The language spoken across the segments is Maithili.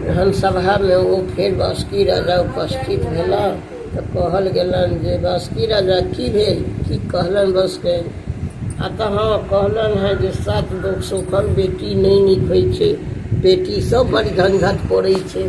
विधानसभामे ओ फेर बासुकी राजा उपस्थित भेला तऽ कहल गेलनि जे बासुकी राजा की भेल की कहलनि बसके आ तऽ हँ कहलनि हँ जे सात लोक सुखल बेटी नहि नीक होइ छै बेटी सब बड़ी घनघट पड़ै छै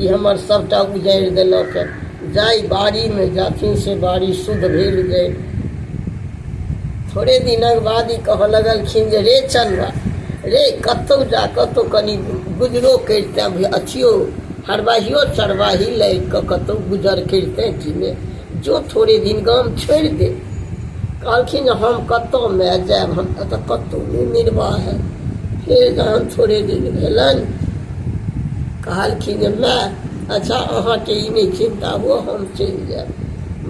ई हमर सभटा उजारि देलक जाय बाड़ीमे जाथिन से बाड़ी शुद्ध भेल जाय थोड़े दिनक बाद ई कहऽ लगलखिन जे रे चंदा रे कतहु जा कतहु कनि गुजरो करिते अथियो हरबाहियो चरबाही लागि कऽ कतहु गुजर करिते कि ने जो थोड़े दिन गाम छोड़ि दे कहलखिन जे हम कतहु मे जायब हम तऽ कतहु नहि निर्वाह है फेर जहन थोड़े दिन भेलनि कहलखिन जे माय, अच्छा अहाँकेँ ई नहि चिन्ता हुअ, हम चलि जायब।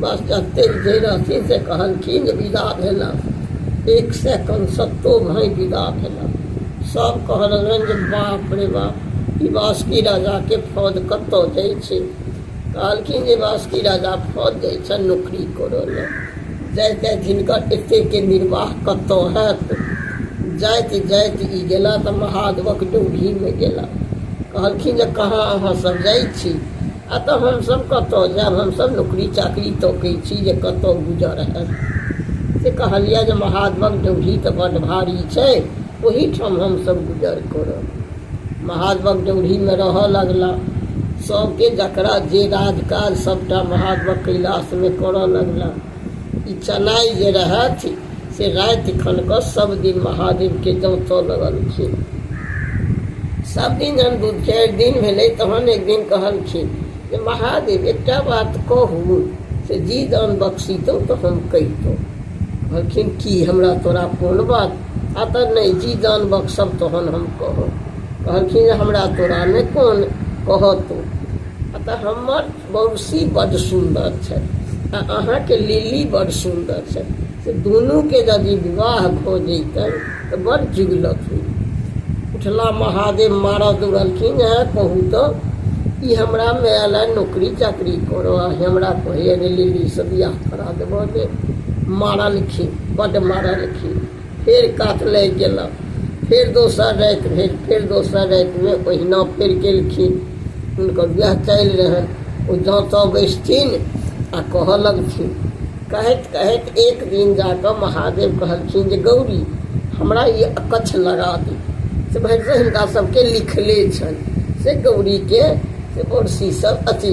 बस जतेक जे रहथिन से कहलखिन जे विदा भेलक। एक सय कनसत्तो भाँइ विदा भेलक। सभ कहलनि जे बाप रे बाप, ई बासुकी राजाकेँ फौज कतय जाइत छै। कहलखिन जे बासुकी राजा फौज जाइ छनि नौकरी करऽ लए जाइत जाइत हिनकर एतेकके निर्वाह कतऽ हैत जाइत जाइत ई गेला तऽ महादेवक डोभीमे गेला कहलखिन जे कहाँ अहाँसभ जाइ छी आ तऽ हमसभ कतऽ जायब हमसभ नौकरी चाकरी तकै छी जे कतऽ गुजर हैत से कहलियै जे महादेवक डोभी तऽ बड्ड भारी छै ओहीठाम हमसभ गुजर करब महादेवक डौढ़ीमे रहय लगलाह सभके जकरा जे राज काज सभटा महादेवक कैलाशमे करय लगलाह ई चनाइ जे रहथि से राति खनकऽ सभ दिन महादेवके जौतऽ लगलखिन सभ दिन जहन दू चारि दिन भेलै तहन एक दिन कहलखिन जे महादेव एकटा बात कहू से जी दान बख्शितहुँ तऽ हम कहितहुँ कहलखिन की हमरा तोरा कोन बात आ तऽ नहि जी जान बक्सब तहन हम कहब कहलखिन जे हमरा तोरा नहि कोन कहऽ तू आ तऽ हमर बौसी बड्ड सुन्दर छथि आ अहाँके लिली बड्ड सुन्दर छथि से दुनूके यदि विवाह भऽ जैतनि तऽ बड़ जिगलत होई उठला महादेव मारऽ दौड़लखिन है कहू तऽ ई हमरा माय लए नौकरी चाकरी करऽ आ हमरा कहैए जे लिलीसँ बियाह करा देबऽ जे मारलखिन बड्ड मारलखिन फेर कात लागि गेलक फेर दोसर राति भेल फेर दोसर रातिमे ओहिना फेर केलखिन हुनकर वएह चालि रहनि ओ जाँतऽ बैसथिन आ कहऽ लगथिन कहैत कहैत एक दिन जाकऽ महादेव कहलखिन जे गौरी हमरा ई अकच्छ लगा दी से भरि हिनका सभके लिखले छनि से गौरीके से बड़सीसँ अथी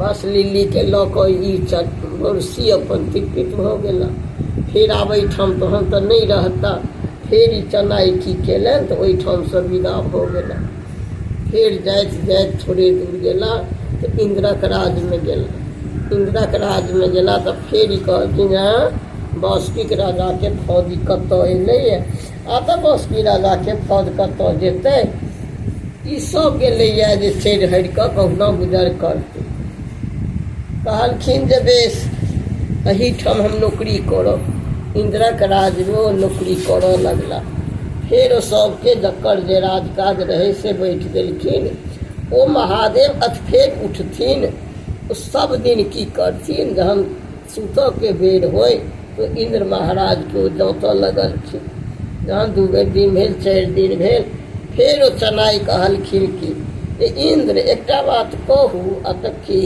बस लिल्लीके लऽ कऽ ई चौरसी अपन तिरपित भऽ गेला फेर आब एहिठाम तहन तऽ नहि रहता फेर ई चनाइ की केलनि तऽ ओहिठामसँ विदा भऽ गेला फेर जाइत जाइत थोड़े दूर गेला तऽ इन्द्रक राजमे गेला इन्द्रक राजमे गेला तऽ फेर ई कहलखिन हेँ बासुकीके राजाके फौज ई कतय एलैए आतक असपीरा लाखे फौज कतऽ जेतै ई सब गेलैए जे चढ़ि हरि कऽ कहुना गुजर करतै कहलखिन जे बेस एहिठाम हम नौकरी करब इन्द्रक राजमे ओ नौकरी करऽ लगला फेर ओ सभके जकर जे राजकाज रहै से बैठि गेलखिन ओ महादेव अथ फेर उठथिन ओ सब दिन की करथिन जहन सूतऽ के बेर होइ तऽ इन्द्र महाराज के ओ जौतऽ लगलखिन जहन दू बेर दिन भेल चारि दिन भेल फेर ओ चनाइ कहलखिन कि जे इन्द्र एकटा बात कहू आ तऽ की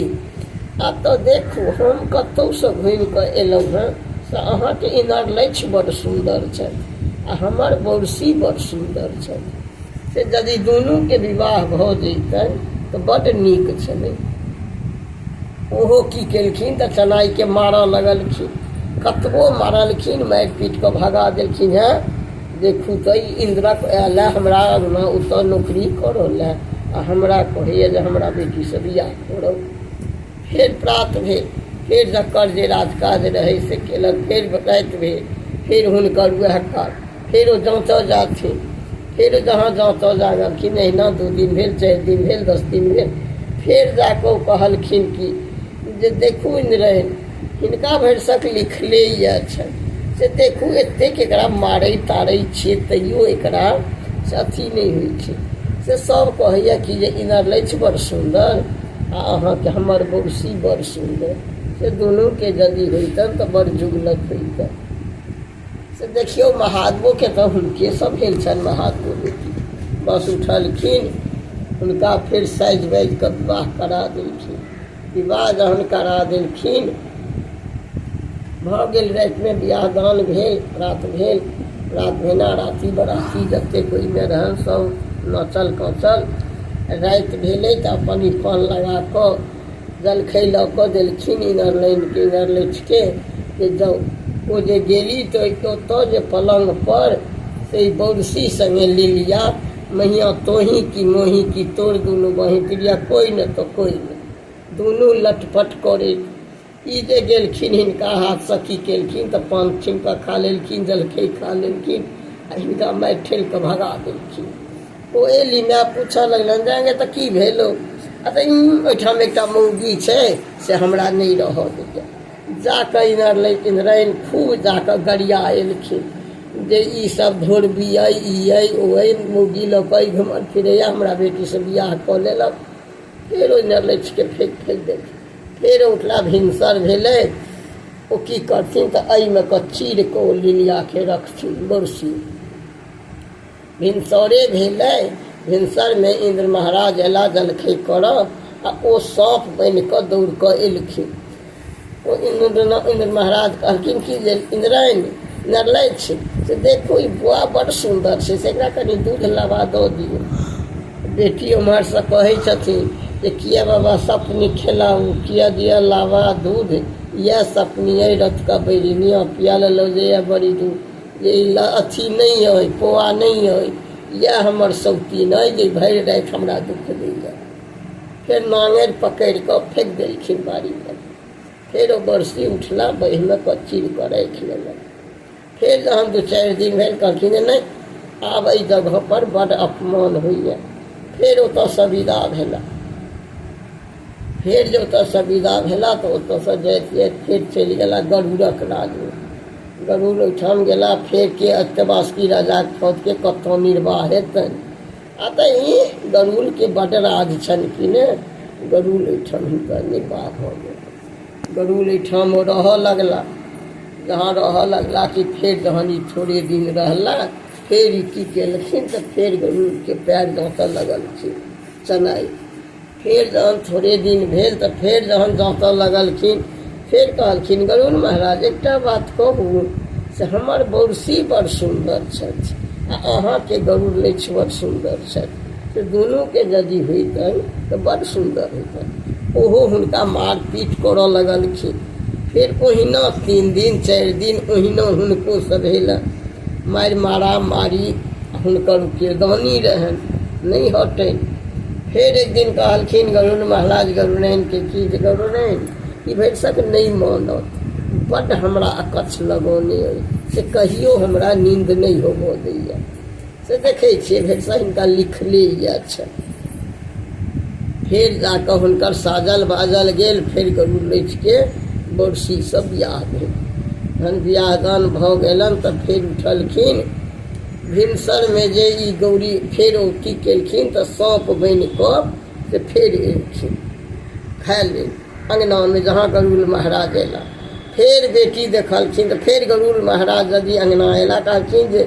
आ तऽ देखू हम कतहुसँ घुमि कऽ एलहुँ हेँ से अहाँके इनार लक्ष्य बड्ड सुन्दर छथि आ हमर बौरसी बड्ड सुन्दर छथि से यदि दुनूके विवाह भऽ जैतनि तऽ बड्ड नीक छलै ओहो की केलखिन तऽ चनाइके मारऽ लगलखिन कतबो मारलखिन मारि पीट कऽ भगा देलखिन हेँ देखू तऽ ई इन्द्रक आयल हँ हमरा अङ्गना ओतऽ नौकरी करऽ लए आ हमरा कहैए जे हमरा बेटीसँ बियाह करब फेर प्रात भेल फेर जकर जे राजकाज रहै से केलक फेर राति भेल फेर हुनकर उएह काज फेरो जाँचऽ जाथिन फेर जहाँ जाँचऽ जागलखिन अहिना दू दिन भेल चारि दिन भेल दस दिन भेल फेर जा कऽ ओ कहलखिन कि जे देखू रहै हिनका भरिसक लिखले यए छनि से देखू एतेक एकरा मारै तारै छियै तैयो एकरा से अथी नहि होइ छै से सभ कहैए कि जे इनर लैछ बड़ सुन्दर आ अहाँके हमर बौसी बड़ सुन्दर से दुनूके यदि होइतनि तऽ बड़ जुगलक होइतनि से देखियौ महादेवोके तऽ हुनके सब भेल छनि महादेवो बेटी बस उठलखिन हुनका फेर साजि बाजि कऽ विवाह करा देलखिन विवाह जहन करा देलखिन भऽ गेल रातिमे बियाह दान भेल रात भेल रात भेना राति बराती जतेक ओहिमे रहल सब नचल कचल राति भेलै तऽ अपन ई पान लगा कऽ जलखै लऽ कऽ देलखिन इनर लाइन के इनर लैठ के जे जाउ ओ जे गेली तऽ ओहिके ओतऽ जे पलंग पर से बौरसी संगे लिलिया मैया तोही की मोही की तोर दुनू बही प्रिया कोई न तो कोई न दुनू लटपट करे ई जे गेलखिन हिनका हाथसँ की केलखिन तऽ पान छीन कऽ खा लेलखिन जलखै खा लेलखिन आ हिनका मारि ठेल कऽ भगा देलखिन ओ एली माय पूछऽ लगलनि जे आगे तऽ की भेलौ आ तऽ ई ओहिठाम एकटा मौगी छै से हमरा नहि रहऽ दैए जा कऽ इनर लै इनरैन खूब जा कऽ गरिया एलखिन जे ई सब धोरबी अइ ई अइ ओ अइ मौगी लऽ कऽ ई घुमल फिरैए हमरा बेटीसँ बियाह कऽ लेलक फेर ओहि नरलैठके फेक फेक देलखिन फेर उठला भिनसर भेलै ओ की करथिन तऽ एहिमे कऽ चीर कऽ ओ लिलियाके रखथिन बरसी भिनसरे भेलै भिनसरमे इन्द्र महाराज अयला जलखै करऽ आ ओ साँप बनि कऽ दौड़ कऽ एलखिन ओ इन्द्र इन्द्र महाराज कहलखिन कि जे इन्द्रायणी नरलाइ छै से देखू ई बौआ बड्ड सुन्दर छै से एकरा कनि दूध लाबा दऽ दियौ बेटी ओम्हरसँ कहै छथिन जे किए बाबा सपनी खेलाउ किए दिअ लाबा दूध इएह सपनी अइ रतुका बैरी निअ पिया लेलहुँ जे यए बड़ी दूध जे ई ल- अथी नहि अइ पोआ नहि अइ इएह हमर सौतीन अइ जे भरि राति हमरा दुःख दैए फेर नांगरि पकड़ि कऽ फेंक देलखिन बाड़ी पर फेर ओ बरसी उठला बहिमे कच्ची कऽ राखि लेलक फेर जहन दू चारि दिन भेल कहलखिन जे नहि आब एहि जगहपर बड्ड अपमान होइए फेर ओतयसँ विदा भेला फेर जे ओतयसँ विदा भेला तऽ ओतयसँ जाइत जाइत फेर चलि गेला गरुड़क राजमे गरुड़ ओहिठाम गेला फेर के अष्टवासुकी राजाक फौजके कतय निर्वाह हेतनि अतहि गरुड़के बड्ड राज छनि कि ने गरुड़ एहिठाम हिनकर निर्वाह भऽ गेल गरुड़ एहिठाम ओ रहऽ लगला जहाँ रहऽ लगला कि फेर जहन ई थोड़े दिन रहला फेर ई की केलखिन तऽ फेर गरुड़के पएर डाँटय लगलखिन चेन्नइ फेर जहन थोड़े दिन भेल तऽ फेर जहन जाँतऽ लगलखिन फेर कहलखिन गरुड़ महाराज एकटा बात कहू से हमर बौरसी बड़ सुन्दर छथि आ अहाँके गरुड़ लक्ष्य बड़ सुन्दर छथि से दुनूके यदि होइतनि तऽ बड़ सुन्दर होइतनि ओहो हुनका मारपीट करऽ लगलखिन फेर ओहिना तीन दिन चारि दिन ओहिना हुनको सभेलनि मारि मारा मारी हुनकर किरदानी रहनि नहि हटनि फेर एक दिन कहलखिन गरुण महाराज गरुणैनके की जे गरुणैन ई भरिसक नहि मानत बड्ड हमरा अकच्छ लगौने अइ से कहियो हमरा नींद नहि होबऽ दैए से देखै छियै भरिसक हिनका लिखले यए छनि फेर जा कऽ हुनकर साजल बाजल गेल फेर गरुड़ लैठके बड़सीसँ बियाह भेल जहन बियाह दान भऽ गेलनि तऽ फेर उठलखिन भिनसरमे जे ई गौरी फेर ओ की केलखिन तऽ साँप बनि कऽ से फेर एलखिन खाय लेल अङ्गनामे जहाँ गरुड़ महाराज अयला फेर बेटी देखलखिन तऽ फेर गरुड़ महाराज यदि अङ्गना अयला कहलखिन जे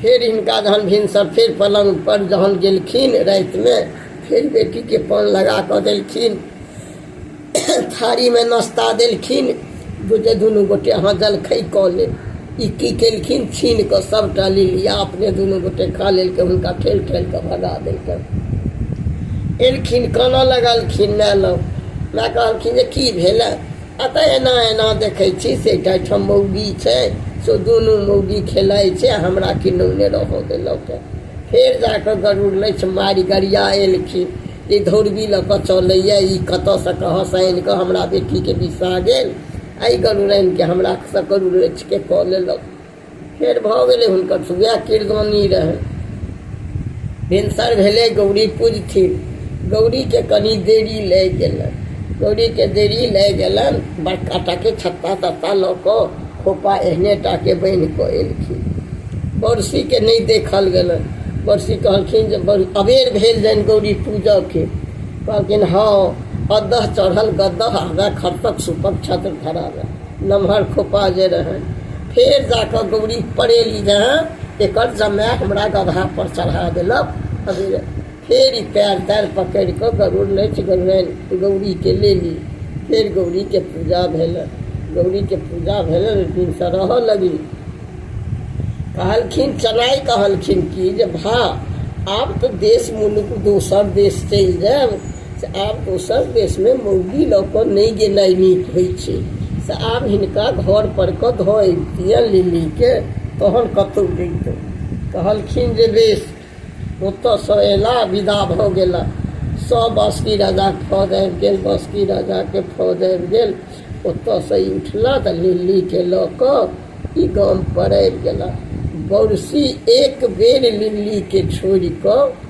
फेर हिनका जहन भिनसर फेर पलङ्गपर जहन गेलखिन रातिमे फेर बेटीके पान लगा कऽ देलखिन थारीमे नाश्ता देलखिन जे दुनू गोटे अहाँ जलखै कऽ लेब ई की केलखिन छीन कऽ सभटा लिलिया अपने दुनू गोटे खा लेलकै हुनका ठेल ठेल कऽ भगा देलकै एलखिन कानऽ लगलखिन माय लग माय कहलखिन जे की भेलै अतः एना एना देखै छी से एकटा ठाम मौगी छै से दुनू मौगी खेलाइ छै हमरा किनौने रहऽ देलक फेर जाकऽ गरुड़ लैछ मारि गरिया एलखिन ई धौरबी लऽ कऽ चलैए ई कतऽसँ कहाँसँ आनि कऽ हमरा बेटीके बिसा गेल एहि गरुड़ैनके हमरा सभ गरुड़ैछके कऽ लेलक फेर भऽ गेलै हुनकर सुबह कीर्तनी रहै भिनसर भेलै गौरी पूजथिन गौरीके कनि देरी लागि गेलनि गौरीके देरी लागि गेलनि बड़का टाके छत्ता तत्ता लऽ कऽ खोपा एहने टाके बान्हि कऽ एलखिन बरसीके नहि देखल गेलनि बरसी कहलखिन जे अबेर भेल जानि गौरी पूजऽके कहलखिन हँ अदह चढ़ल गदह आगा खरतक सुपक छत्र धराबे नमहर खोपा जे रहनि फेर जा कऽ गौरी पड़ेली जे एकर जमाय हमरा गधा पर चढ़ा देलक अभी फेर ई पैर तैर पकड़ि कऽ गरुड़ नाचि गेलनि गौरीके लेली फेर गौरीके पूजा भेलनि गौरीके पूजा भेलनि दिनसँ रहऽ लगली कहलखिन चनाइ कहलखिन कि जे भा आब तऽ देश मुलुक दोसर देश चलि जायब से आब दोसर देशमे मउगी लऽ कऽ नहि गेनाइ नीक होइ छै से आब हिनका घरपर कऽ धऽ अबितियनि लिलीके तहन कतहु जैतहुँ कहलखिन जे बेस ओतऽसँ अयला विदा भऽ गेला सभ बासुकी राजाके फौज आबि गेल बासुकी राजाके फौज आबि गेल ओतऽसँ ई उठला तऽ लिलीके लऽ कऽ ई गामपर आबि गेला बरसी एक बेर लिलीके छोड़ि कऽ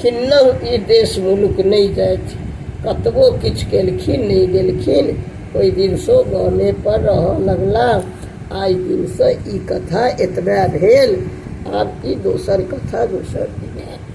खिन्नहु ई देश मुलुक नहि जाथि। कतबो किछु केलखिन नहि गेलखिन। ओहि दिनसँ ओ गामे पर रहऽ लगलाह। आइ दिनसँ ई कथा एतबे भेल। आब ई दोसर कथा दोसर दिन आयत।